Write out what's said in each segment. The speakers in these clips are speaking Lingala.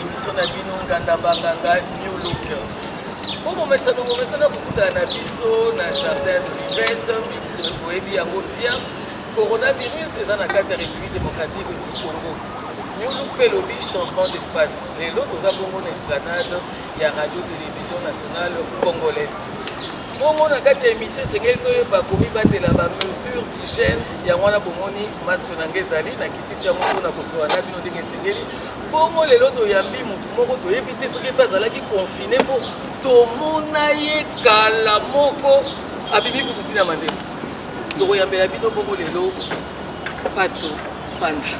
Emission na bino nganda banganga new look. Bomomesa nomomesa na kokutana na biso na jardin Privest, boyebi yango bien. Coronavirus eza na kati ya République démocratique du Congo. New look mpe elobi changement d'espace. Lelo toza bongo na esplanade ya radio télévision nationale congolaise. Bongo na kati ya émission esengeli toyeba komibatela ba mesure d'hygiène yango wana bomoni masque na ngai ezali nakitisi yango mpona kosola na bino ndenge esengeli Bongo lelo toyambi motu moko toyebi te soki mpe azalaki confine mpo tomona ye kala moko abimi kutu ntina mandefu tokoyambela bino bongo lelo paco panda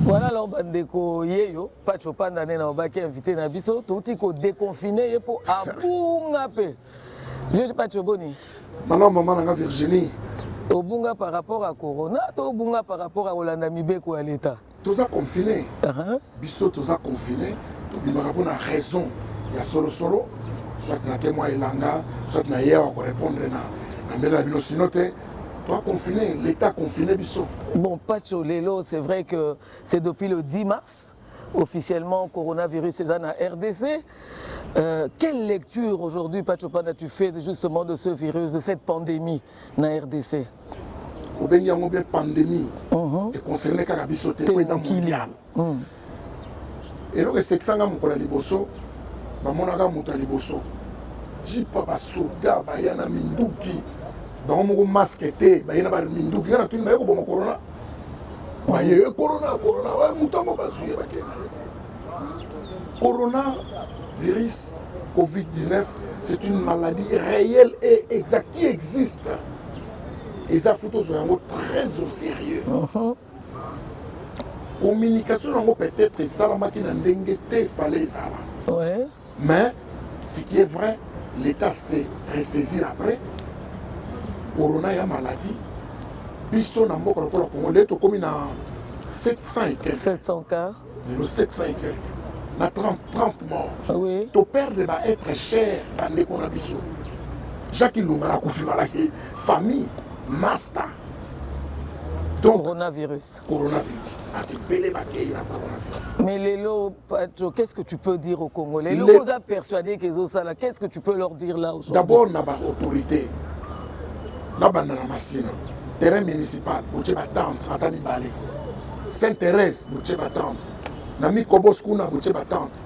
Voilà alors bandeko yeyo Pacho Panda nena obaki invité na biso touti ko déconfiner ye po abunga pe. Vieux Pacho Boni. Maman maman nanga Virginie. Obunga par rapport à Corona to obunga par rapport à Olanda Mibeko ya l'État. toza confine uh -huh. biso toza confine tobimaka mpo na raison ya solosolo soit na témoin elanga soit na ye awa korépondre na na mbela na bino sino te toa confine l'état confine biso bon pacho lelo c'est vrai que c'est depuis le 10 mars officiellement coronavirus est en RDC. Euh, quelle lecture aujourd'hui, Pachopana, tu fais justement de ce virus, de cette pandémie na rdc. Obengi yango bien pandemie uh mhm. -huh. econcerne kaka biso te po eza mondial uh -huh. eloko esekisanga mokolo ya liboso bamonaka moto ya liboso jipa basoda baya na minduki bango moko maske te baye na baminduki kaka natuni baye koboma korona baye korona korona moto yango bazwi ye bakenda ye Corona virus Covid-19, c'est une maladie réelle et exacte qui existe. Et ça fout aux yango très au sérieux. Uh-huh. Communication yango peut-être esalamaki na ndenge te fallait ezala. Ouais. Mais ce qui est vrai, l'État s'est ressaisi après. Corona ya maladie. Biso na mboka lokola Congo, leo tokomi na 700 et quelques. 700 cas. lelo 700 et quelque na 30, 30 morts ah oui. to perdre ba être cher bandeko na biso jacques ilunga akufi malaki famille masta donc coronavirus coronavirus atibele bakei na coronavirus mais lelo patro qu'est ce que tu peux dire au congo lelo Les... oza persuadé kezosala qu'est ce que tu peux leur dire là aujourd'hui d'abord na baautorité na banda na masina terrain municipal otie batente ata mibale Sainte Thérèse botie ba tente. Na Mikobos kuna botie ba tente.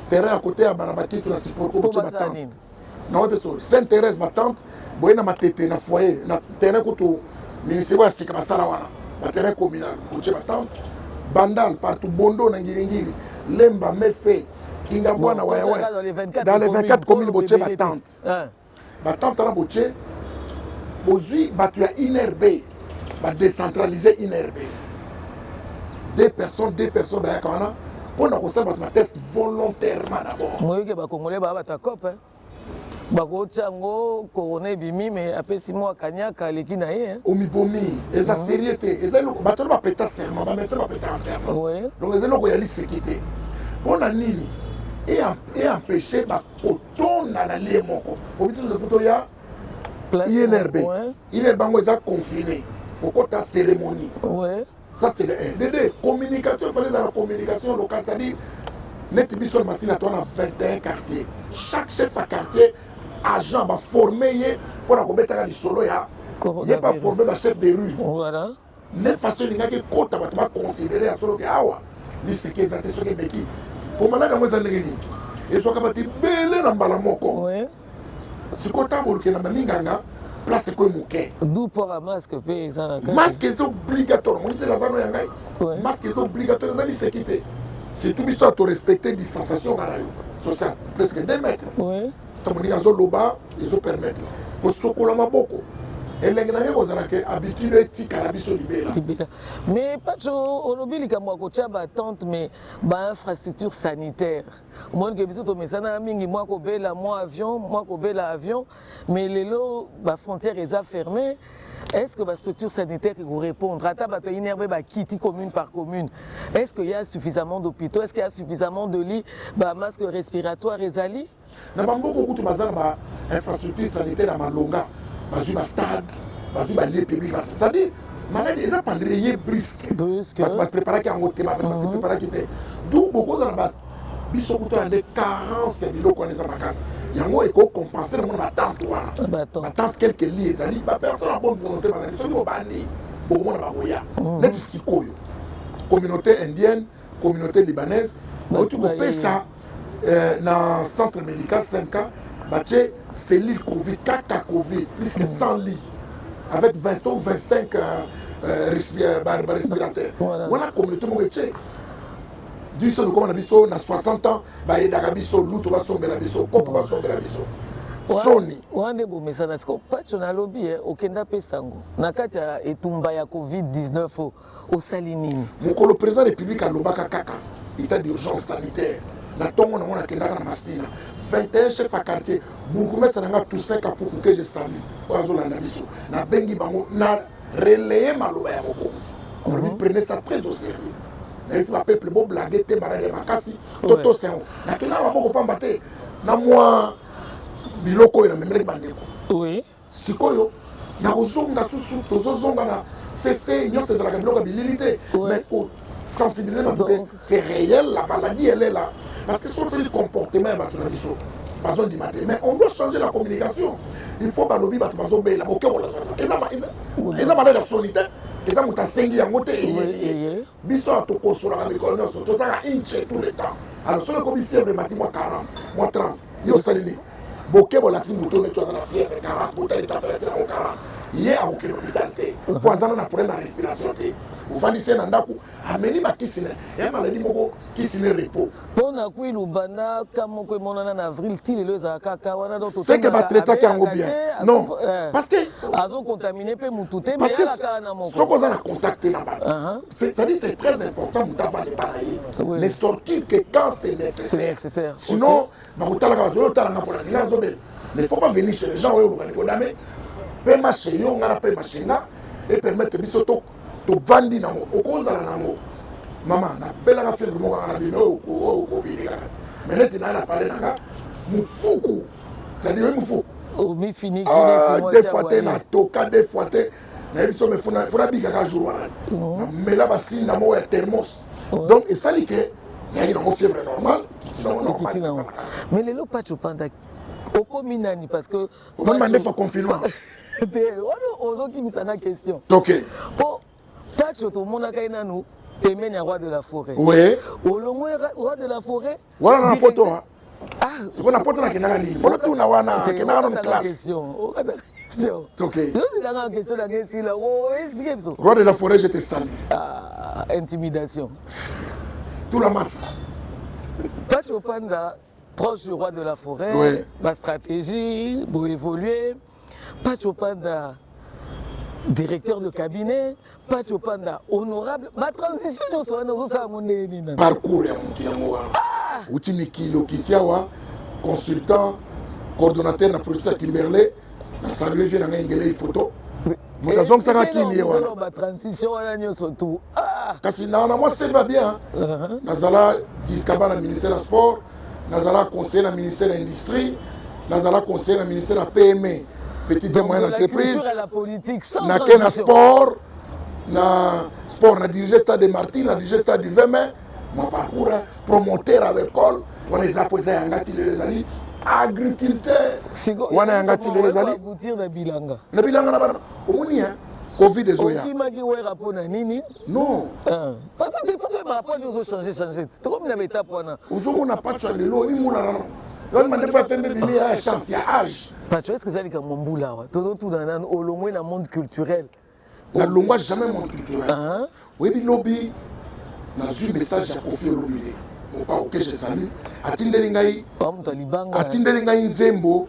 Terrain à côté ya Barabakitu na Siforko botie ba tente. Na wapi so Sainte Thérèse ba tente boye na matete na foyer na terrain kutu ministère ya sika basala wana. Ba terrain communal botie ba tente. Bandal partout Bondo na Ngiringiri Lemba Mefe Kingabwana bon, Wayawaya dans les 24 communes botie ba tente. Ba temps tala botie bozui batu ya INRB ba decentraliser INRB deux personnes deux personnes bayaka wana mpo na kosala bato bateste volontairement d'abord moyoki bakongole baa bato ya cope bakotya yango korona ebimi me apesi mwa kanyaka aleki na ye omibomi eza mhm. serie te eza eloko bato wana bapeta serment bamédecin bapetaka serment donc eza eloko ya liseki te mpo na nini eempêche bakot tonda na lie moko obisi na foto ya inrb inrb yango eza confine kokota cérémonie ça c'est le dd communication efale eza na communication locale c'est-à-dire neti biso na masina to na 21 quartier chaque chef ya quartier agent baforme ye mpo na kobetaka lisolo ya ye baforme bachef de rue voilà. Nde façon elingaki ekota bato ba considere ya solo ke awa liseki eza te soki ebeki mpo maladi yango eza ndenge nini ezwaka bato ebele na mbala moko sikoyo ntango boluke na maminganga place ekoye moke maske eza obligatoire omoni te nazano ya ngai maske eza obligatoire eza liseki te surtout biso ya torespecte distanciation nga na yo sociale presque 2 mètre ntango ndenge azoloba ezo permettre kosokola maboko elenge na ye kozala ke habitude etikala biso libela libela mais pacho olobi likambo ya kotya batente mais bainfrastructure sanitaire omoni ke biso tomesana mingi mwa kobela mwa avion mwa kobela avion mais lelo bafrontière eza ferme est ce que bastructure sanitaire ekorépondre ata bato ya inerbe bakiti commune par commune est ce que ya suffisamment d'hôpitaux est ce que ya suffisamment de lit bamasque respiratoire ezali na bamboka okutu baza na bainfrastructure sanitaire ya malonga bazwi bastade bazwi balie public c'est-à-dire maladi eza pandemie ye briske bato bapreparaki yango te bato base preparaki te donc bokozala biso kutu ande carence ya biloko wana eza makasi yango ekoki compense na mona batante wana batante quelque li ezali baperto na bonne volonté bazali soki bobandi bokomona bakoya mm. neti sikoyo communauté indienne communauté libanaise bauti kopesa euh, na centre médical 5 ans batie cellule covid kaka covid plus que 100 mm. lits avec 20 ou 25 respirateur wana communauté moko etie biso lokoma na biso na 60 ans bayedaka biso lutu basombela biso kopo basombela biso soni wana nde bomesana siko pacho nalobi eh, okenda apesa yango na kati ya etumba ya covid-19 osali nini mokolo président république alobaka kaka état d'urgence sanitaire na ntongo nango nakendaka na masina 21 chef ya quartier bourgmestre na nga toussaint kapuku ke je salut oyo azolanda biso nabengi bango na relayer maloba ya mokonzi olobi prenez ça très au sérieux nayebisi bapeple boblage te maladi ya makasi totosa yango nakenda maboko pamba te na mwa biloko oyo namemelaki bandeko sikoyo nakozonga susu tozozonga na sese nyonso ezalaka biloko ya bilili te sensibiliser bato ke c'est réel la maladie elle est là parce que soki otali comportement ya bato na biso bazondima te mais on doit changer la communication il faut balobi bato bazobela boke kolazana eza malade ya soni te eza moto asengi yango te eyeye biso ya tokosolaka mikolo nyonso tozalaka inche tout le temps alors soki ekomi fièvre mati mwa 40 mwa 30 yo osaleli boke bolakisi moto ndeti aza na fièvre kara botali température yango kara ye akokende hôpital te mpo azana na problème ya respiration te ofandisi ye na ndako ameli bakisi na ya maladi moko kisi ne repos mpo na kui lubanda ka moko emonana na avril ti lelo ezala kaka wana donseke batraitaki yango bien non eh. parce que azocontamine mpe motu te parce que soki oza na contact te na bato uh-huh. c'est-à-dire c'est très important moto avanda epa na ye mais surtout que quand c'est nécessaire sinon nakotalaka bato oyo otalanga mpona ngai nazobela mais faut pas venir chez les gens oyo obokani kodame pema chez yo nga na pema chez nga epermettre biso tovandi nango okozala nango mama nabelaka filme moko kaka na bino oyo okovini kaka mais neti naye na pale nanga mofuku cetadire oyi mofuku des fois te natoka des fois te nayebi so me fona fona bika ka jour wana oh. na mela ba sinda mo ya thermos oh. donc esali que yali na fièvre normal ekiti na ngo mais lelo pati opanda okomi nani parce que omema ndefa confinement te wana ozokimisa na question toke mpo pacho tomonaka ye nanu pembeni ya roi de la forêt oui. olongo roi de la forêt wana na poto ah. ah, sikoyo na poto nakendaka nini bolotuna wana akendaka nanu classe roi de la forêt je te salue ah, intimidation tout la masse pacho panda proche du roi de la forêt, oui. ma stratégie, pour évoluer. Pacho Panda, directeur de cabinet, Pacho Panda, honorable, ma transition nous sommes nous sommes nous Parcours ya mutu yango wana. Ah! Uti mikilo kitiawa consultant coordonnateur na professeur Kimberley na saluer vie na ngai ngele photo. Moto eh, azongisaka kini ye wana. Ba transition wana nyoso tout. Ah! Kasi na na moi c'est va bien. Uh-huh. Nazala dikaba na ministère ya sport. nazalaka conseiller na ministère ya industrie nazalaka conseiller na ministère ya pme petite moyenne entreprise nake na sport na sport na dirige stade de martin na dirige stade du 20 mai mon parcours promoteur ya baekole wana eza mpo eza yanga ti lelo ezali agriculteur wana yanga ti lelo ezali na bilanga na bana omoni ya covid ezoya okimaki wera mpo na nini non ah. Parce que faut que ma pointe ozo changer changer. Tu comme na beta pona. Ozo mona patch ya lelo ni mona na. Yo mande fa pembe bimi ya chance ya âge. Patch est-ce que zali ka mombula wa. Tozo tout dans nan olongwe na monde culturel. Na longwa jamais monde culturel. Ah. Webi lobi na zui message ya Koffi Olomide. Mopao que je salue. Atindeli ngai. Atindeli ngai nzembo.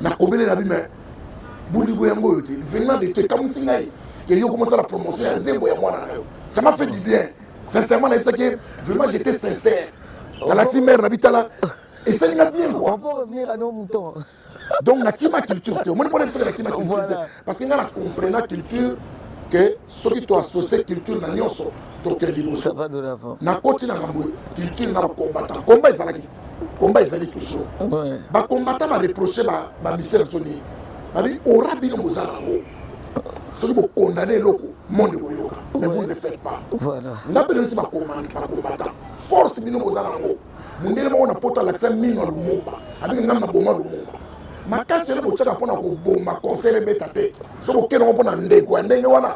Na kobele na bi mais bolingo yango oyo te venant de te kamwisi ngai et yo commence la promotion ya zembo ya mwana na yo ça m'a fait du bien sincèrement nayebisaki ye vraiment j'étais sincère nalati mare na bitala esali nga bien quoi donc nakima culture te omoni mpona biso nakima culture te Parce que nga na comprena culture que soki to associe culture na nyonso tokende liboso. Nakoti na ngambo culture na bakombata komba ezalaki komba ezali toujours bakombata bareproche bamisele so nini babi ora bino boza nango soki bokondane eloko monde koyoka mais vous ne le faites pas nga mpe nayebisi bakombatant force bino boza nango mondele moko na poto alakisa mino ya lumumba abiki ngai naboma lumumba makasi ele botyaka mpo na koboma concert ebeta te soki okende yango mpo na ndeko ya ndenge wana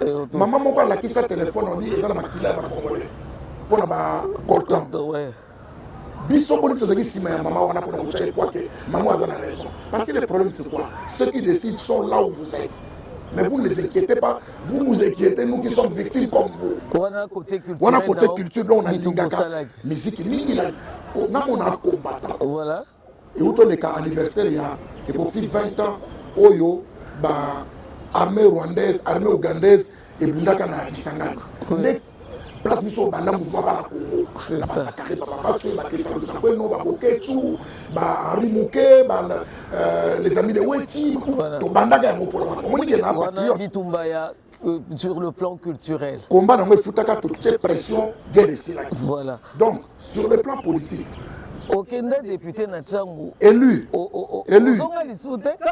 eh, mama moko alakisa telefone abi eza na makila ya bakongole mpo na bacoltan biso boni tozalaki nsima ya mama wana mpo na kotya ekwake mama aza na raison parce que le problème c'est quoi ceux qui décident sont là où vous êtes Mais vous ne les inquiétez pas, vous nous inquiétez, nous qui sommes victimes comme vous. On a côté culture, on a miziki mingi na nako na kombata voilà euti oleka anniversaire ya ekosi 20 ans oyo ba armée rwandaise armée ougandaise ebundaka na kisangani nde place biso obanda mouvement bana kongo na basakare bababaswe bakesalusapo eno babokecu bahenri moke euh, les amis de weti tobandaka yango mpona omoni ke na patriote Euh, sur le plan culturel. Combat dans le foutaka toute cette pression guerre et Voilà. Donc sur le plan politique. okenda député na ntango élu élu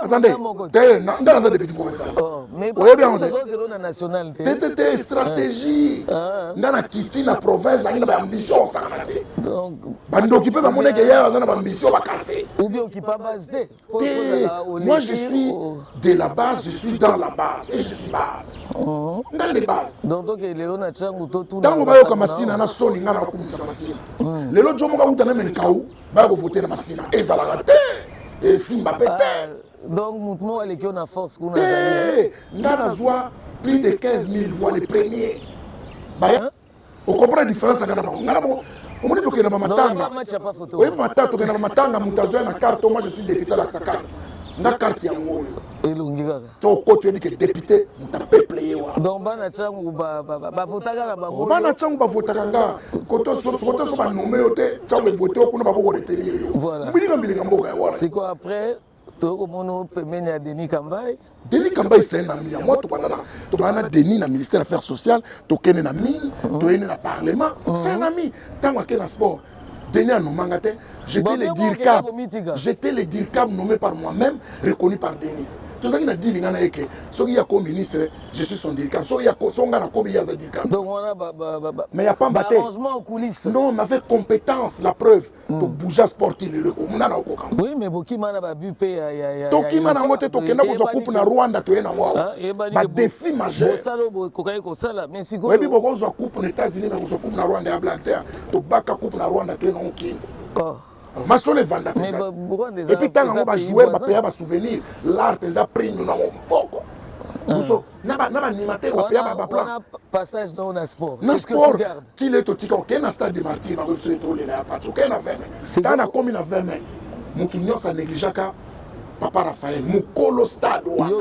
attendez te nda naza député professeur oh, oyebi yango te te te te stratégie ah. nga na kiti na province nangi na baambition osangana te bandoki mpe bamoneke yayo aza na baambition bakase obi okipa base te Moi, je suis de la base, je suis dans la base et je suis base. Mhm. Dans les bases. Donc, donc, lelo na changu to tout. Tango ba yoka masina na soni ngana kumisa masina. Mhm. Lelo jomo ka uta na menkau ba ko voter na masina. Ezala ka te. Et simba pete. Ah, donc, mutu mo aleki na force kuna zali. Ngana zwa plus de 15 000 voix les premiers. Ba hein? o comprendre différence ya nga na bango nga na bango omoni tokenda ba matanga oyebi matanga tokenda ba matanga moto azoya na carte moi je suis député alakisa carte nga carte yango oyo elongi kaka toko toyebi ke député moto apeple ye wa donc bana cangu bavotaka na bango bana cangu bavotaka nga kotoso banome yo te cangu evote yo kuna baboko retenir yo mbilinga mbilinga mboka ya wana siko après toyei komona pembeni ya denis kambai denis kambai c'est un ami ya moi tobanda na tobanda na denis na ministère affaires sociales tokende na mine mhm. toyende na parlement mhm. c'est un ami ntango akei na sport denis anomanga te j'étais le dircab j'étais le dircab nommé par moi-même reconnu par denis tozalaki na dili ngai na ye ke soki ye ako ministre je suis son dircab so ngai nakomi ye aza dircab mais ya pamba te non on avait compétence la preuve to hmm. bouger sport ti lelo ekomuna na okoka oui mais bokima na ba but pe ya ya ya tokima na ngo te tokenda kozwa coupe na Rwanda toye na ngo ah, ba défi majeur bosala bo kokaki kosala mais sikoyo oyebi bokozwa coupe na États-Unis mais kozwa coupe na Rwanda ya Black Terre tobaka coupe na Rwanda toye na ngo kini oh masolo evanda mpenza epuis ntango yango bajoueur bapeya basouvenir lar mpenza prime na moboko ah. na ba na ba animateur ba paya ba plan na passage dans na sport na sport ti le to tika ok na stade de martyr ba ko se to le na patch ok na 20 mai ta na komi na 20 mai mutu nyosa negligaka papa raphaël mokolo stade wana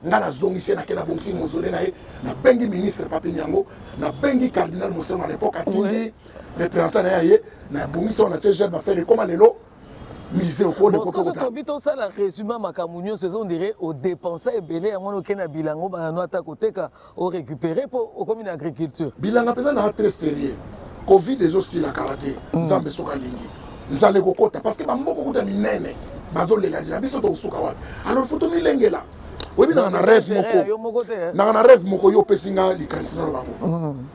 ngai nazongisi nake na bongisi mozole na ye nabengi ministre papi yango nabengi cardinal mosengo à l'époque atindi représentant na ye aye na bongisi wana tie jeune bafere ekoma lelo tobi tosala résumé makambo nyonso eza ondire odepensa ebele yango wana okei na bilanga obanda no ata koteka orécupere mpo okomi na agriculture bilanga mpenza naa très sérieux covid ezosila kala te mm. nzambe soki alingi nzala ekokota parce que bamboka okuta minene bazolelalela biso tokosuka wapi alors fo tomilengela oyebi nanga na rêve moko nanga na rêve moko yo opesi nga likanisi nalo bango mm.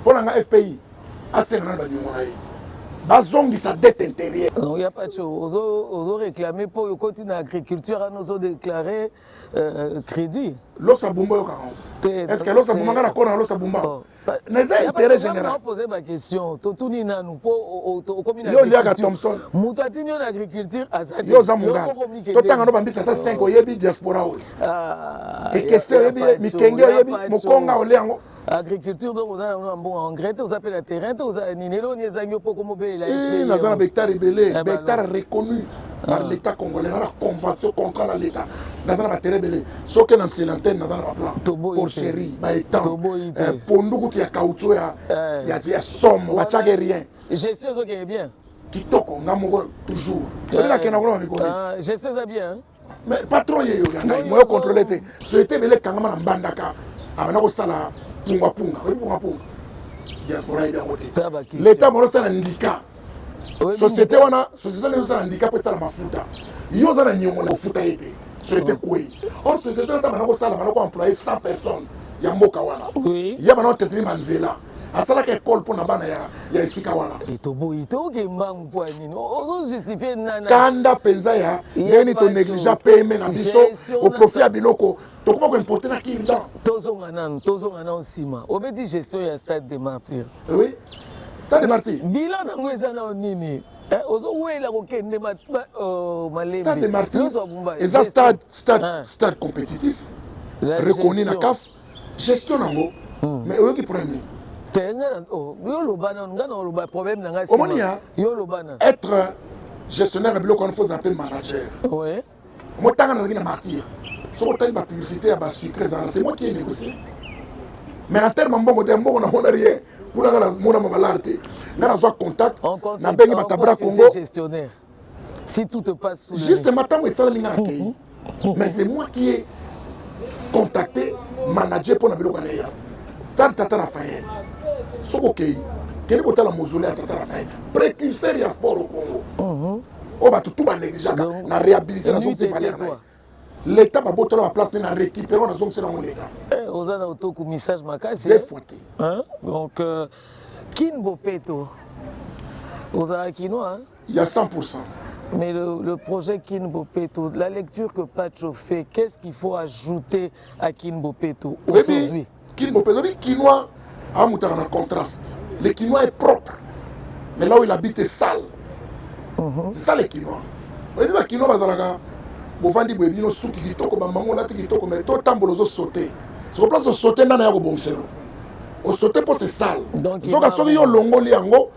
Mpo na nga FPI asenga na ba niongo na ye bazongisa dette intérieure. Non, ya pas chaud. Ozo ozo réclamer po okoti na agriculture ano ozo déclarer euh, crédit. Losa bumba yo kango. Est-ce que losa bumba kana kona losa bumba? Oh, na eza intérêt général. On poser ma question. To tuni nanu po okomi na. Yo liaka Thompson. Mutu atini yo na agriculture azali. Yo za munga. To tanga no bambisa ta 5 oyebi diaspora oyo. Ah. Ekese oyebi mikenge oyebi mukonga ole yango. agriculture donc oza nango na mbongo engrais te oza mpe na terrain te oza nini eloko nini ezangi yo mpo okomobelela eh, naza na bectare ebele eh, bectare reconnu ah. par l'état congolais na na convention contrat na l'état naza na batere ebele soki na mselantene naza na baplan porcherie baetan eh, pondu kutu ya cautio ya somme batiake rien gestion ezokende bien kitoko nga moko toujours nakenda kuna bamikoni gestion eza bien mais patron ye yo ya ngai moyo contrôler te société ebele ekangama na mbandaka abanda kosala pungapunga oyebi pungapunga diaspora yebi yango te leta moko osala ndika société wana société wana ezosala ndika mpo esala mafuta yo oza na nyongo na kofuta ye te société kwei or société wana ta banda kosala banda ko employe 100 personnes ya mboka wana ya bana oteteli manzela asalaka ekole mpo na bana ya, ya esika wana etoboyi toke mbangu mpo ya nini ozojustifie nana kanda mpenza ya ndeni tonégligea pme na biso oprofit ya biloko tokoma koimporte na kirdan tozonga nanu tozonga nanu nsima obeti gestion ya stade de martyr oui stade de martyr bilan nango eza nao nini eh, ozowela kokende oh, malembe eza stade stade ah. stade compétitif reconnu na caf gestion nango hmm. mais oyoki problème nini te nga na oh, yo loba nanu nga na oloba problème na nga omoni ya yo loba nanu être gestionnaire ya biloko wana faut ozala mpe manager oui motanga nazalaki na martyr soki otali bapublicité ya basucre ezala c'est moi qui ai négocié mais na terme mbongo te mbongo namona rien kuna nga namona mabalare te nga nazwa contact nabengi batabra congo si tout te passe sous justement ntango esalami nga na kei mais c'est moi qui ai contacté manager mpo na biloko ya leya stade tata rafael soki okei kende kotala mozole ya tata rafael précurseur ya sport au congo oyo bato tu banegligeaka na réhabilité na zongi valeur na ye Leta ba botola ba place na récupérer on azongisa na leta. Eh oza na otoku message makasi. Des fois te. Hein? Donc euh, Kin Bopeto. Oza kinois hein? Il y a 100%. Mais le, le projet Kin Bopeto, la lecture que Pacho fait, qu'est-ce qu'il faut ajouter à Kin Bopeto aujourd'hui? Kin bo pelobi kinois amutaka na contraste. Le kinois est propre. Mais là où il habite est sale. Mhm. C'est ça le kinois. Oyebi ba kinois bazalaka bovandi boye bino suki kitoko bambango olati kitoko mais to tambola ozo saute. Sur place osaute ndana ya kobongiselo. Osaute mpo c'est sale. Donc, Zoka soki yo olongoli yango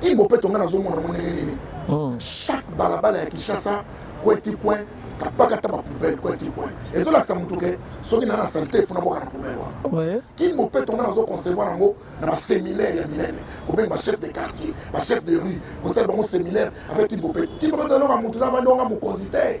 King Bopeto nga nazo mona ngo ndenge nini hmm. chaque balabala ya Kinshasa coin ti coin kapakata ba poubelle coin ti coin ezo lakisa mutu ke soki na na salite funa boka na poubelle wana King Bopeto nga nazo concevoir yango na ba séminaire ya minene kobenga ba chef de quartier ba chef de rue kosala bango séminaire avec King Bopeto King Bopeto alonga mutu na bandonga mokonzi te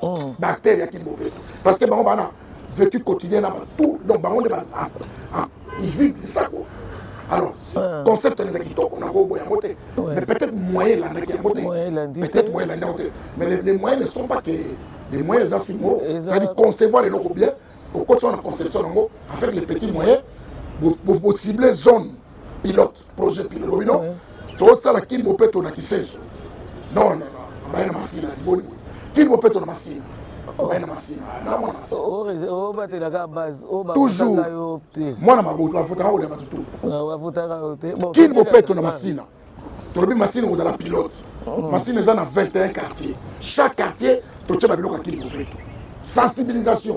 oh. ba acteurs ya kin bobeto parce que bango bana vécu quotidien na tout donc bango nde ba ah, ah, ils vivent lisako alors euh. concept ezalaki kitoko nakobo yango te mais peut-être moyen elandaki yango te peut-être moyen elandi yango te mais les moyens ne sont pas que les moyens eza fingo c'est-à-dire concevoir eloko bien okotisa na conception yango avec les petits moyens bocible zone pilote projet pilo lobi no tosala kimbo peto na kisenso non non baye na masina liboni kimbo peto na masina baye na masina na mwana obatelaka base toujours yo te mwana maboto avotaka kolia bato tu avotaka yo te kimbo peto na masina tolobi masina kozala pilote mm. masina eza na 21 quartier chaque quartier totyeba biloko ya kimbo peto sensibilisation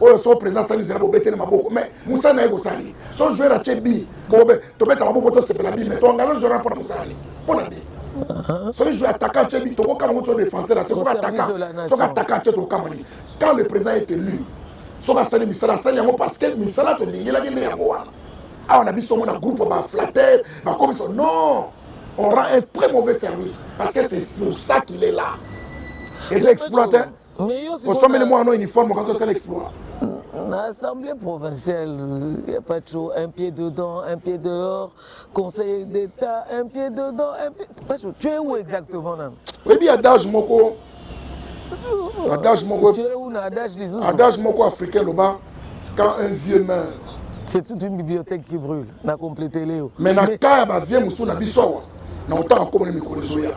oyo so président asali nzela bobete na maboko mais mosala na ye kosali so joueur atie bi bobe tobeta maboko tosepela bi mais toengage joueur mpona mosali mpona bi uh-huh. soki joueur ataka atie bi tokokama ngo so défenseur atie soki ataka soki ataka atie tokokama nini quand le président est élu soki asali misala asali yango parce que misala tolingelaki nde yango wana awa na biso omona groupe baflater bakomiso non on rend un très mauvais service parce que c'est pour ça qu'il est là eza exploiter osombeli mwana no uniforme okanisi osala exploit na assemblée provinciale ya patro un pied dedans un pied dehors conseiller d'état un pied dedans un pied patro tu es où exactement nano oyebi adage moko adage moko adage moko africain loba quand un vieux meurt c'est toute une bibliothèque qui brûle na complété leo mais na cas ya bavie mosusu na biso awa na otanga komona mikolo ezoya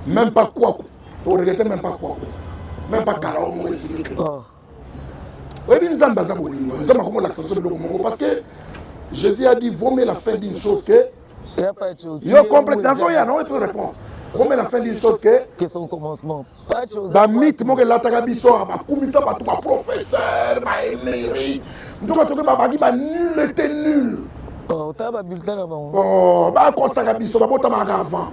même pas kwaku o regrette même pas quoi même pas kalawo moko esili te oh. oyebi nzambe aza bolingo nzambe akomolakisa biso biloko moko parce que jésus a dit vomie la fin d'une chose que yo complet nazoya na oyo mpe réponse vomie la fin d'une chose que bamite moko elataka biso bakumisa bato baprofesseur baemeri ntoka toke babaki banul ete nul oh, oh, bakosaka biso babotamaka avant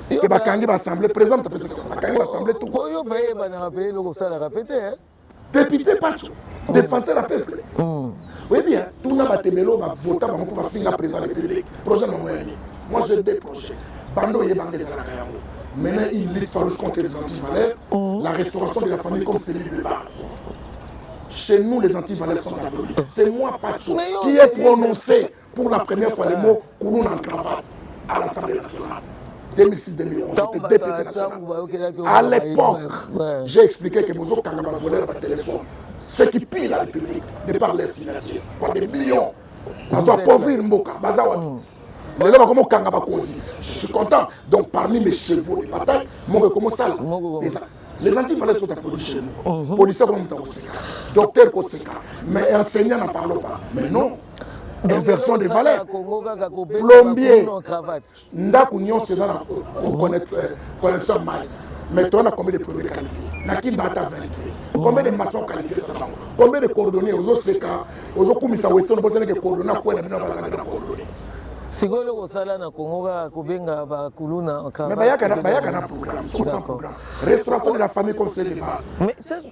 ke bakangi baassemble président moto apesaka bakangi baassemble tout po yo mpe eyebanaka mpe eloko osalaka mpe te député paco défenseur ya peuple oyebi tuna bato ebele oyo bavota bango mpo bafinga président république projet na bango ya nini moi j'ai deux projets banda oyebanga ezalaka yango maintenant il lutte farouche contre les antivaleurs la restauration de la famille comme celui de base chez nous les antivaleurs sont abolis c'est moi paco qui ai prononcé Pour la première fois, le mot kuluna en cravate à l'Assemblée nationale. 2006-2011, À l'époque, j'ai expliqué que Bozo Kangama volait par téléphone. Ceux qui pillent la République, de par leur signature, par des millions, bazo appauvrir Mboka, baza wapi mm. lelo bakoma kanga bakonzi je suis content donc parmi mes chevaux de bataille moko ekoma osala les anti valeurs sont applaudis chez nous policier akoma moto akoseka docteur koseka mais enseignant na parlo pas mais non inversion de valeur plombier ndako nyonso eza na connexion ya mai mais toza na combien de plombier qualifié na kimba ata 20 combien de maçon qualifié na bango combien de coordonné ozoseka ozokumisa western boseneke coordonné akuya na bino bazalaka na coordonné sikoyo eloko osala na kongo kaka kobenga bakuluna bayaka na programme restauration de la famille comme c'est de base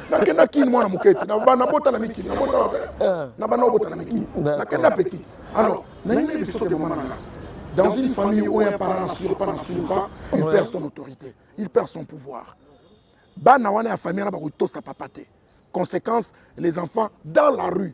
nakenda kini mwana moke ti nabota na mikili na bana obota na mikili nakenda petit alors nayebi biso te mwana nanga dans une famille où un parent n'assure pas n'assure pas il perd son autorité il perd son pouvoir bana wana ya famille wana bakotosa papa te conséquence les enfants dans la rue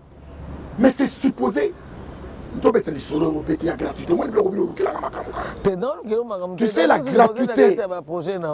mais c'est supposé tobeta lisolo yango pete ya gratuité omoni biloko bino olukelaka makambo kaka tu sais la gratuité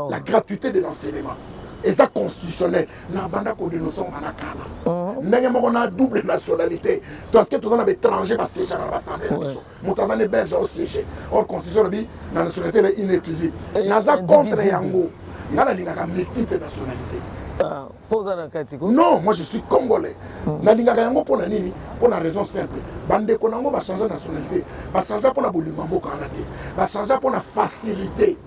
la gratuité de l'enseignement eza constitutionnel na banda kodenonce yango bana kala mhm. ndenge moko na double nationalité parce que toza na baétranger basiégaka na basamble na biso moto aza ne belge osiége or constitution lobi na nationalité le inéclusive naza contre yango ngai nalingaka multiple nationalité ah. Poza na kati ko. Non, moi je suis congolais. Mm. Nalingaka yango pona nini? Pona raison simple. Bande ko nango ba changer nationalité. Ba changer pona bolingo mboka wana te. Ba changer pona facilité.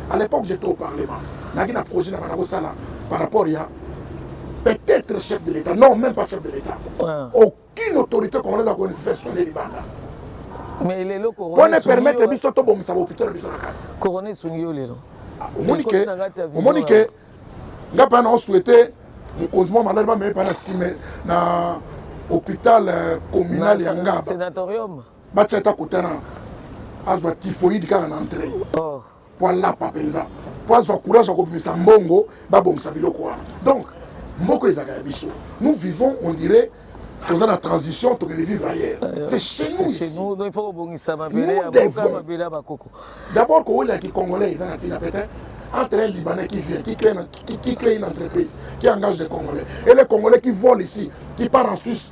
À l'époque j'étais au parlement. Naki na projet na bana ko sala par rapport ya peut-être chef de l'État. Non, même pas chef de l'État. Ouais. Au Kin autorité congolaise akoni se faire soigner libanda. Mais lelo corona. Pone permettre biso to bongisa ba hôpital biso na kati. Corona esungi yo lelo. Ah, omoni ke omoni ke nga pa na o souhaiter mokonzi mwa maladi bameye pa na sime na hôpital euh, communal ya ngaba batia ata kotana azwa typhoïde kaka na entrée oh. mpo alapa mpenza mpo azwa courage ya kobimisa mbongo babongisa biloko wana donc mboka ezalaka ya biso nous vivons on dirait toza na transition tokende vivre ailleurs euh, c'est chez nous chez nous donc il faut kobongisa mabele ya boka mabele ya bakoko d'abord kowela ki congolais eza na ntina peut-être entre un Libanais qui vient, qui crée, qui, qui crée une entreprise, qui engage des Congolais, et les Congolais qui volent ici, qui partent en Suisse,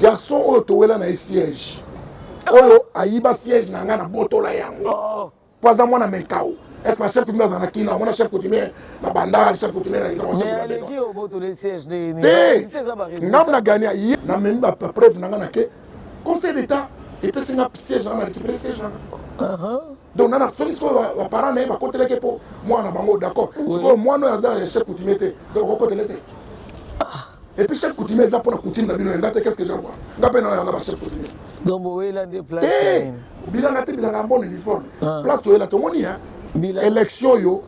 garçon oyo towela na ye siège oyo ayiba siège na ngai nabotola yango oh. mpo aza mwana menkau est ce que chef coutumier aza na kina omona chef coutumier na bandal chef coutumier na ngambo na gani aye namemi bapreuve na ngai na ke conseil d'état epesi nga siège na nga na récupéré siège na nga donc nana soki sikoyo baparent na ye bakotelaki mpo mwana na bango d'accord sikoyo mwana oyo aza ya chef coutumier te donc okokotele te ah. epuis chef coutumier eza mpona coutume na bino ya nga te qu'est ce que jawa nga mpe nayanga ba chef coutumier donc bowela nde place eh, bilanga te bilanga mbona uniforme ah. place toyela tomoni ya élection oyo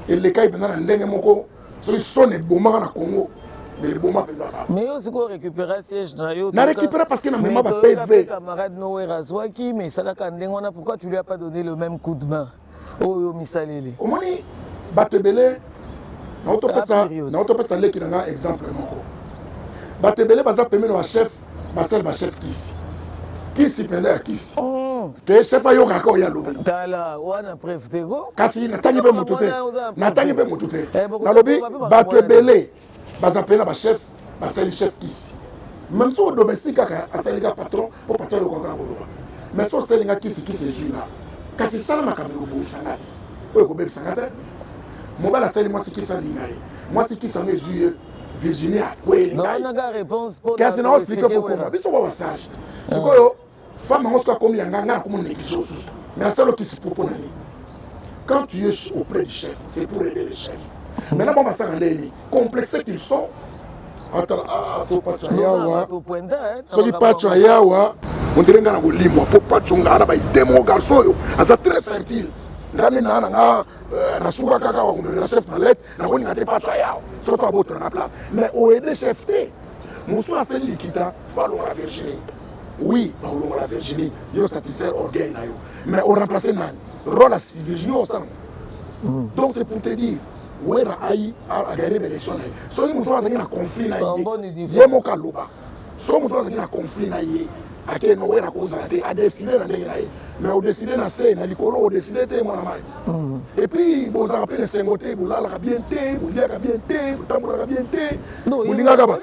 elekai mpenza na ndenge moko soki son ebomaka na congo mais eboma mpenza kaka mais yo sikoyo récupéra siège na yo na récupéra parce que na mema ba pv camarade nower azwaki mais esalaka ndenge wana pourquoi tu lui as pas donné le même coup de main oyo misaleli omoni bato ebele naotopesa leki na ngai exemple moko bato ebele baza pembeni ya bachef basali ba chef kisi kisi mpenza ya kisi oh. te chef ayokaka oyo alobi tala wana preuve te ko kasi natangi mpe moto te natangi mpe moto te eh, nalobi bato ebele baza mpe na bachef basali chef kisi meme soko domestique kaka asali ka patron mpo patron ayokaka kaka koloba mais so osali nga kisi kisi ezwi nga kasi sala makambo ekobongisa nga te oyo ekobebisa nga te mobali asali mwasi kisi alinga ye mwasi kisi yango ezwi ye virginie akweli nawanaka réponse mpo kasi na explike kokoma biso ba basage sikoyo femme yango soki akomi yanga ngai nakomi neglige osusu mais asala okisi mpo mpona nini quand tu es auprès du chef c'est pour aider le chef maintenant bango basaka nde nini complexe qu'ils sont atala ah, so pacho ayawa soki pacho ayawa ondire ngai na kolimwa mpo pacho ngai na baide moko garçon oyo aza très fertile ngai nde naa na ngai euh, nasuka kaka wakomela chef malete nakolinga te patso ayao soki abotola na place mais oede chef te mosusu asali likita fo alongola virginie oui bakolongola virginie yo satisfaire orgueil na yo mais oremplace nani role ya virginie osala hmm. donc c'est pour te dire wera ayi aganye baélection na ye soki moto azalaki na conflit na ye ye moko aloba Soki moto azalaki na conflit na ye ake nower akozala te adeside na ndenge na ye mais odeside na se na likolo odeside te mwana mai mm. epuis bozalaka mpe na esengo te bolalaka bien te boliaka bien te botambolaka bien te bolingaka ba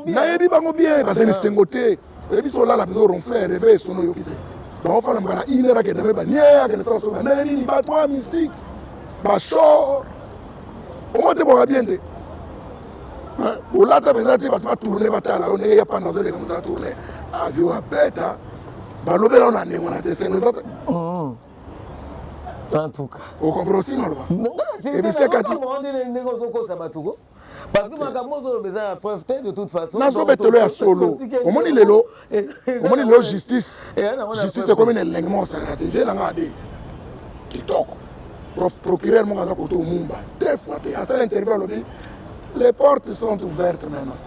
nayebi bango bien bazali na esengo te oyebi so olala mpenza oronfle reve sono oyoki te bango fana mokana iner akenda mpe banie akenda sala soki bandenge nini batwa mystique bashor omona te bwaka bien te olata mpenza te bato batourne batala yo ndenge ya panda azoleka moto atourne avio abeta balobela yo na ndenge wana te sengo eza te mm. en tout cas okomprend osi maloba ebisi akati ndenge ozokosa bato ko parce que makambo ozoloba eza na preuve te de toute façon nazobetelo ya solo omoni lelo omoni lelo justice justice ekomi na elengi moko salaka te vie nanga abe kitoko procureur moko aza koto omumba deux fois te asala interview alobi les portes sont ouvertes maintenant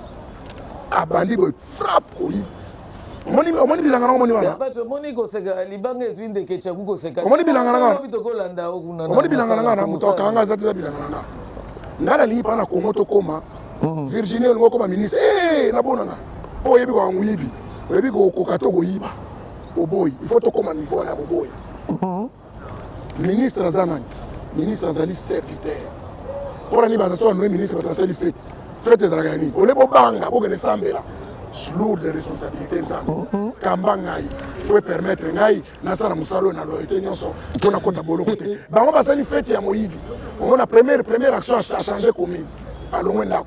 abandi boye frappe oyibi omoni bilanga nango omoni wanaomoni bilanga nangaomoni bilanga nanga na moto akanga aza te eza bilanga nanga ngai nalingi mpana na kongo tokóma hmm. virginie olingi okóma ministre eh, nabonanga Mpo oyebi kaka moyibi, oyebi kokoka to koyiba, oboyi. Il faut tokoma niveau wana ya koboya. Mhm. Ministre aza nani? Ministre azali serviteur. Mpo na nini baza soki banoye ministre bato basali fete? Fete ezalaka ya nini? Ole bobanga bokende sambela lourde de responsabilité nzambe mhm. kamba ngai po epermettre ngai nasala mosala oyo na loyete nyonso mpo nakota boloko te bango basali fete ya moyibi omona première première action achange commune alongwe ndako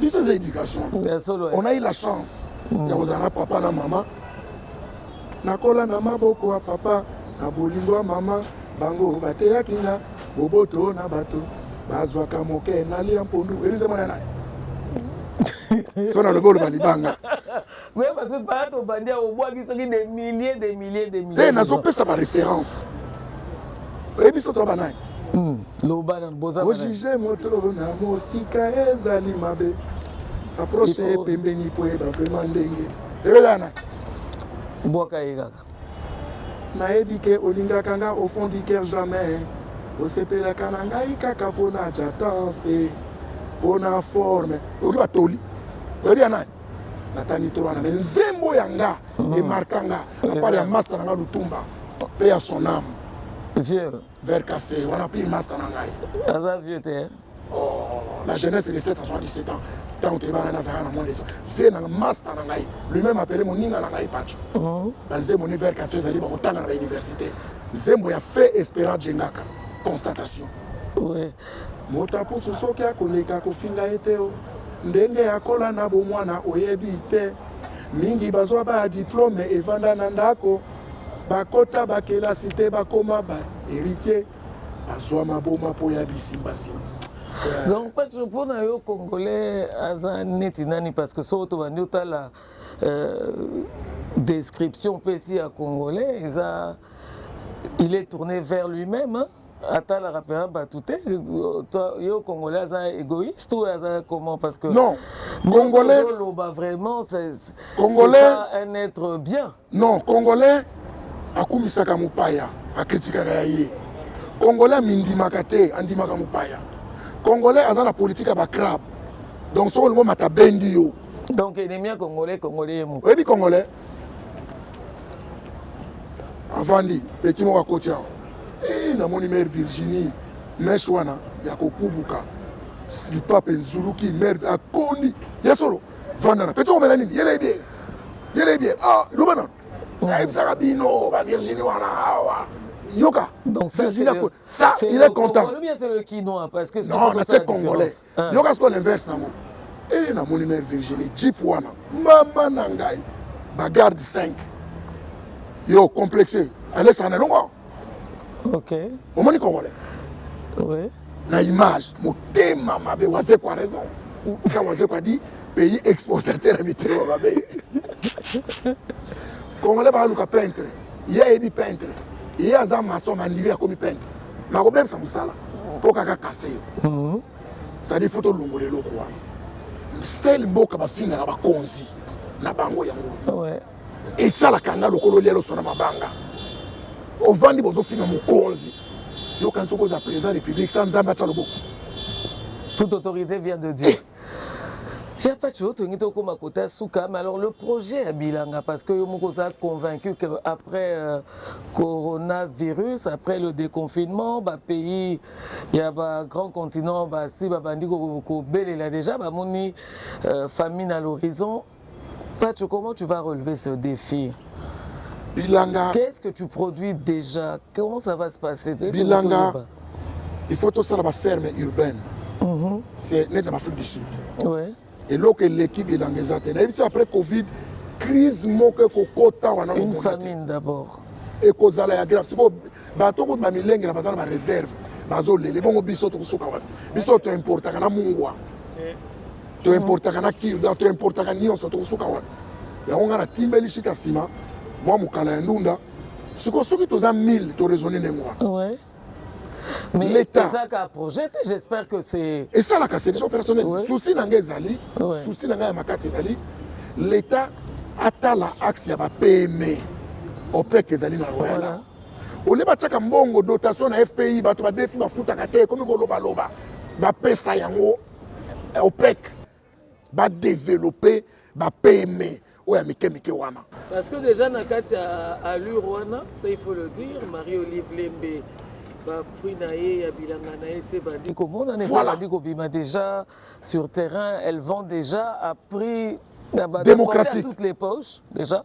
biso eza éducation on a eu la chance mm. ya kozala na papa na mama nakola na maboko ya papa na bolingo ya mama bango bateyaki nga boboto na bato bazwaka moke nalia mpondu elize mwana naye so nalobi oloba libanga Oui, parce que par au bandit, au bois, qui sont des milliers, des milliers, des milliers. Eh, n'a pas ça ma référence. Et puis, c'est toi, banane. Hmm, loba na boza bana. Ojije moto na mosika ezali mabe. Approche ye pembeni po yeba vraiment ndenge. Ebelana. Bwaka ye kaka. Nayebi ke olingaka nga au fond du cœur jamais. Osepelaka na ngai kaka mpo na jatance, mpo na forme. Oyebi batoli. Oyebi ya nani? natangi trop wana mais nzembo ya nga hmm. emarka nga apart ya masta na nga lutumba mpe ya son âme vieux vers cassé wana mpe masta na ngai aza vieux te oh, la jeunesse de 7 à 77 ans ntango toyebana nazalaka na monesa vie na masta na ngai lui-même apele moninga na ngai paco hmm. banzembo ni vers cassé ezali bakotanga na bauniversité nzembo ya fe espérant jengaka constatation oui. Motapusu soki akoleka kofinga ye te oh. Ndenge akola na bomwana oyebi te. Mingi bazwa ba diplomes evanda na ndako. Bakota ba kelasi te bakoma ba heritiers. Bazwa maboma mpo ya bisimba simba. donc pacho mpo na yo congolais aza neti nani parce que soko tobandi otala euh, description mpesi ya congolais eza il est tourné vers lui-même hein? atalaka mpenza bato te yo congolais aza égoïste ou aza comment parce que non congolais oloba vraiment congolais un être bien non congolais akumisaka mopaya akritikaka ya ye congolais amindimaka te andimaka mopaya congolais aza na politike ya bacrabe donc soki olingo mata bendi yo donc ennemi ya congolais congolais ye moko oyebi congolais avandi peti moko akoti awa e, namoni mare virginie mes wana ya kokubuka slipape nzuluki mare akondi ya solo vandana peti okomela nini yele ebie yele ebie ah, loba nano nayebisaka bino bavirginie wana awa yoka donc virginie ça, ça il est content non natie congolais Ah. Yoka sikoyo l'inverse nango. Eh na moni mère Virginie Jeep wana. Mama na ngai. Ba garde 5. Yo complexé. Allez ça na longo. OK. Omoni congolais. Oui. Na image motema mabe waze kwa raison. Ça waze kwa dit pays exportateur ya mitema mabe. Congolais ba luka peintre. Ye ayebi peintre. Ye aza maçon na ndimi akomi peintre. nakobebisa mosala mpo kaka kase yo mhm. sadi fo tolongola eloko wana sele mboka bafingaka bakonzi na bango yango esalaka nga lokola olia loso na mabanga ovandi bozofinga mokonzi yokanisi okozala président république sa nzambe atya loboko toute autorité vient de dieu eh, Ya Pacho, tolingi tokoma kota suka, mais alors le projet ya bilanga, parce que yo moko oza convaincu que après euh, coronavirus, après le déconfinement, ba pays ya ba grand continent basi babandi kobelela déjà bamoni euh, famine à l'horizon, Pacho, comment tu vas relever ce défi Bilanga. Qu'est-ce que tu produis déjà Comment ça va se passer Bilanga. Il faut tout ça dans la ferme urbaine. Mm -hmm. C'est net en Afrique du Sud. Ouais. Et là, l'équipe est dans les Athènes. Et après Covid, crise moque kokota wana une famine d'abord et ekozala ya grave sikoyo bato kutu bamilengela baza na bareserve bazolele bongo biso tokosuka wana biso toimportaka na mungwa to importaka na kirda to importaka nyonso tokosuka wana yango ngai natimbeli shita nsima mwa mokala ya ndunda siko soki toza 1000 toraisonne ndenge wana Mais l'État. projet, j'espère que c'est. Et ça, là, c'est déjà personnel. Ouais. Souci n'a pas zali. Ouais. Souci n'a pas makasi zali. L'État a la axe ya ba PME. OPEC ezali na Royal. Voilà. Ole ba tchaka mbongo dotation na FPI bato ba defi ba futaka te comme ko loba loba. Ba pesa yango opec ba développer ba pme oyo ya mike mike wana parce que déjà na kati ya allure wana ça il faut le dire marie olive lembe bafruit na ye ya bilanga na ye se bandi komonana voilà. bandi kobima déjà sur terrain elle vend déjà à prix démocratique toutes les poches déjà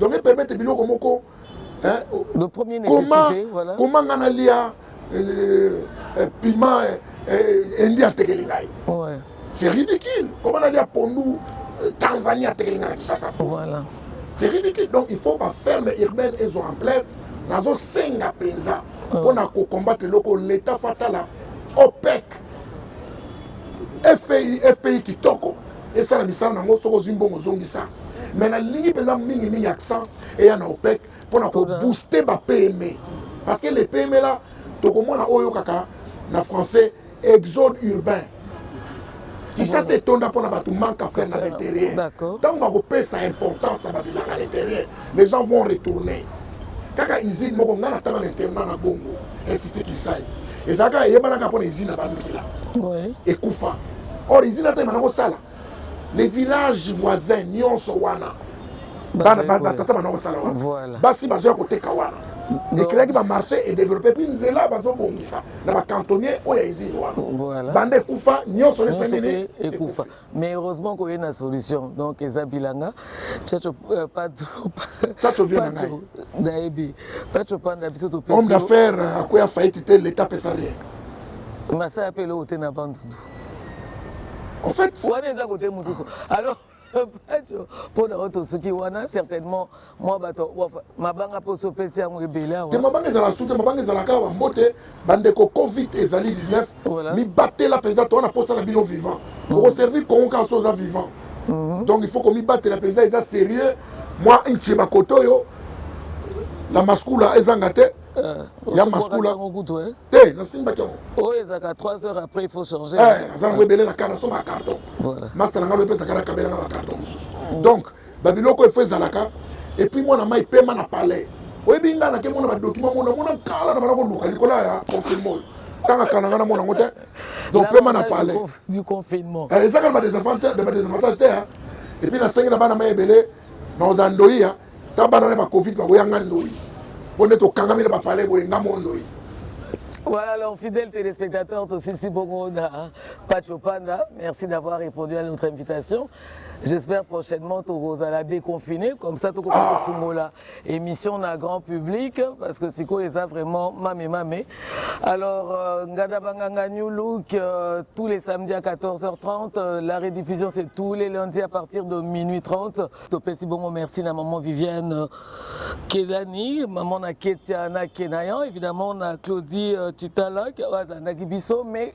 donc e permettre biloko moko hein de premier comment voilà. comment nga na lia euh, euh, euh, piment indi atekeli ngai ouais. c'est ridicule comment na lia pondu tanzanie atekeli ngai na kisasa voilà c'est ridicule donc il faut ba ferme urbaine ezo en plein nazosenga mpenza mpo na kokombatre eloko leta fatala opec fpi fpi kitoko esala misala na yango soki ozwi mbongo ozongisa mais nalingi mpenza mingimingi accent eya na opec mpo na kobooste bapme parce que le pme la tokomona oyo kaka na français exode urbain kinshasa etonda mpo na bato manque à faire na l'intérieur ntango bakopesa importance na babilanga l'intérieur Les gens vont retourner. Kaka usine moko nga na tanga na internat na Bongo, Institut Kisai. Ezalaka eyebanaka mpo na usine na Bamila. Oui. Ekufa. Or usine ata ebanda kosala. Les villages voisins nyonso wana. Bana bana tata bana kosala wana. Voilà. Basi bazoya koteka wana. Ekelaki ba marché et développé puis nzela bazo bongisa na ba cantonnier oyo ya usine wana. Voilà. Banda ekufa nyonso lesengeli ekufa. mais heureusement koye na solution donc eza bilanga chacho euh, pacho chacho vient na ngai nayebi pacho panda biso to pesi homme d'affaires euh, akoya faillite te l'état pesa rien masaya mpe eloko te na bandundu en fait wana eza kote mosusu alors pacho mpo na oyo tosuki wana certainement mwa bato mabanga mposo opesi yango ebele awa te mabanga ezalaka su te mabanga ezalaka awa mbote bandeko covid ezali 19 mibatela mpenza to wana mposa na bino vivant mm. okoservir congo kaka so oza vivant mm-hmm. donc il faut komibatela mpenza eza sérieux mwa nce bakoto oyo la maskula ezanga te euh, ya maskula eh? te nasimbaki yango oyo oh, ezalaka 3 heures après il faut changer eh, naza nango ebele na kar nasomba carton masta na ngai oyo epesaka na kabelanga bacarton mosusu mm. donc Ba biloko il faut ezalaka et puis mwana mai pema na palais. Oyebi nga na ke mona ba document mona mona kala na bana ko luka likola ya confinement. Tanga kana nga na mona ngote. Donc pema na palais. Du confinement. Eh, ezaka ba desavantages de ba desavantages te. Hein? Et puis na sengi na bana mai ebele na ozandoia ta bana na ba covid ba koyanga ndoi. Pone to kangami na ba palais boye nga mondoi. Voilà, alors, fidèles téléspectateurs, aussi si bon, Pacho Panda, merci d'avoir répondu à notre invitation. J'espère prochainement tokozala déconfiné comme ça tokoki ah. kofungola émission na grand public parce que sikoyo eza vraiment mame mame. Alors euh, Ngada Banganga New Look euh, tous les samedis à 14h30, euh, la rediffusion c'est tous les lundis à partir de minuit 30. Topesi bongo merci na maman Viviane euh, Kelani, maman na Ketia na Kenayan, évidemment na Claudie euh, Chitala qui a biso mais